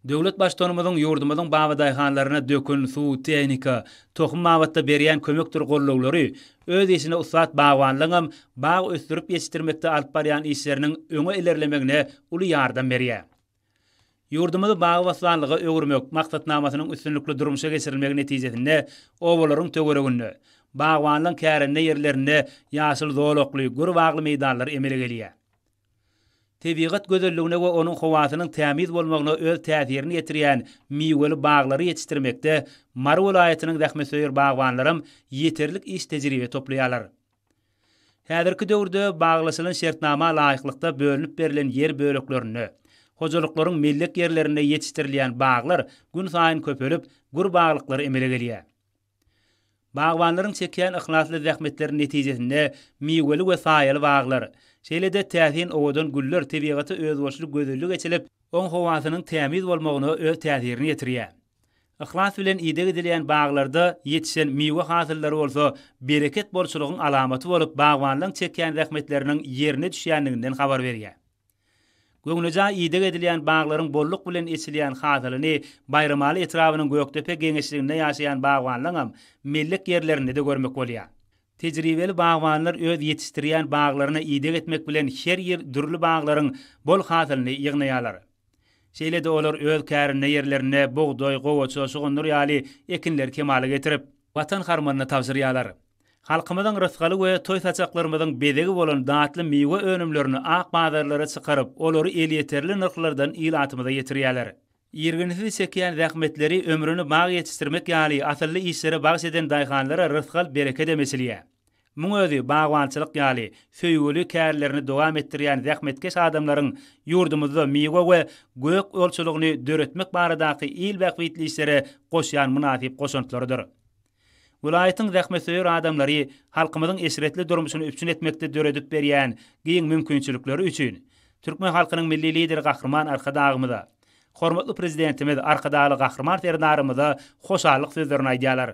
Döwlet Baştutanymyzyň ýurdumyzyň babadaýhanlaryna dökün, suw, tehnika, tohum babatda berýän kömekdir gollaglary öz işine ussat bagbanlaryňam bag ösdürip ýetişdirmekde alyp barýan işleriniň öňe ilerlemegine uly ýardam berýär. Ýurdumyzy bagy-bossanlyga öwürmek maksatnamasynyň üstünlikli durmuşa geçirilmegi netijesinde obalaryň töwereginde, bagbanlygyň kärende ýerlerinde ýaşyl zolakly, gür bagly meýdanlar emele gelýär. Tebigat gözelligine we onuň howasynyň tämiz bolmagyna öz täsirini ýetirýän miweli baglary ýetişdirmekde Mary welaýatynyň zähmetsöýer bagbanlaram ýeterlik iş tejribe toplaýarlar. Häzirki döwürde baglaşylan şertnama laýyklykda bölünip berlen ýer böleklerinde, hojalyklaryň mellek ýerlerinde ýetişdirilýän baglar günsaýyn köpelip, gür baglyklar emele gelýär. Bagbanlaryň çekýän yhlasly zähmetleri netijesinde miweli we saýaly baglar, şeýle-de täsin owadan güller tebigata özboluşly gözellik eçilip, oň howasynyň tämiz bolmagyna öz täsirini ýetirýär. Yhlas bilen ideg edilýän baglarda ýetişen miwe hasyllary bolsa bereket bolçulygyň alamaty bolup, bagbanlaň çekýän zähmetleriniň ýerine düşýändiginden habar berýär. Göwnejaý ideg edilýän baglaryň bolluk bilen eçilýän hasylyny Baýramaly etrabynyň Gökdepe geňeşliginde ýaşaýan bagbanlaňam mellek ýerlerinde-de görmek bolýar. Tejribeli bagbanlar öz ýetişdirýän baglaryna ideg etmek bilen her ýyl dürli baglaryň bol hasylyny ýygnaýarlar. Şeýle-de olar öz kärinde ýerlerinde bugdaý, gowaça, şugundyr ýaly ekinleri kemala getirip, Watan harmanyna tabşyrýarlar. Halkymyzyň rysgaly we toý-saçaklarymyzyň bezegi bolan datly miwe önümlerini ak bazarlara çykaryp, olary elýeterli nyrhlardan ilatymyza ýetirýärler. Irginsiz çekýän zähmetleri, ömrüni bag ýetişdirmek ýaly asylly işlere bagyş eden daýhanlara rysgal-berekedem eçilýär. Muň özi bagbançylyk ýaly söýgüli kärlerini dowam etdirýän zähmetkeş adamlaryň ýurdumyzda miwe we gök olçulygyny döretmek baradaky il bähbitli işlere goşýan mynasyp goşantlarydyr. Welaýatyň zähmetsöýer adamlary halkymyzyň eşretli durmuşyny üpjün etmekde döredip berýän giň mümkinçilikleri üçin türkmen halkynyň Milli Lideri Gahryman Arkadagymyza, hormatly Prezidentimiz Arkadagly Gahryman Serdarymyza hoşallyk sözlerini aýdýarlar.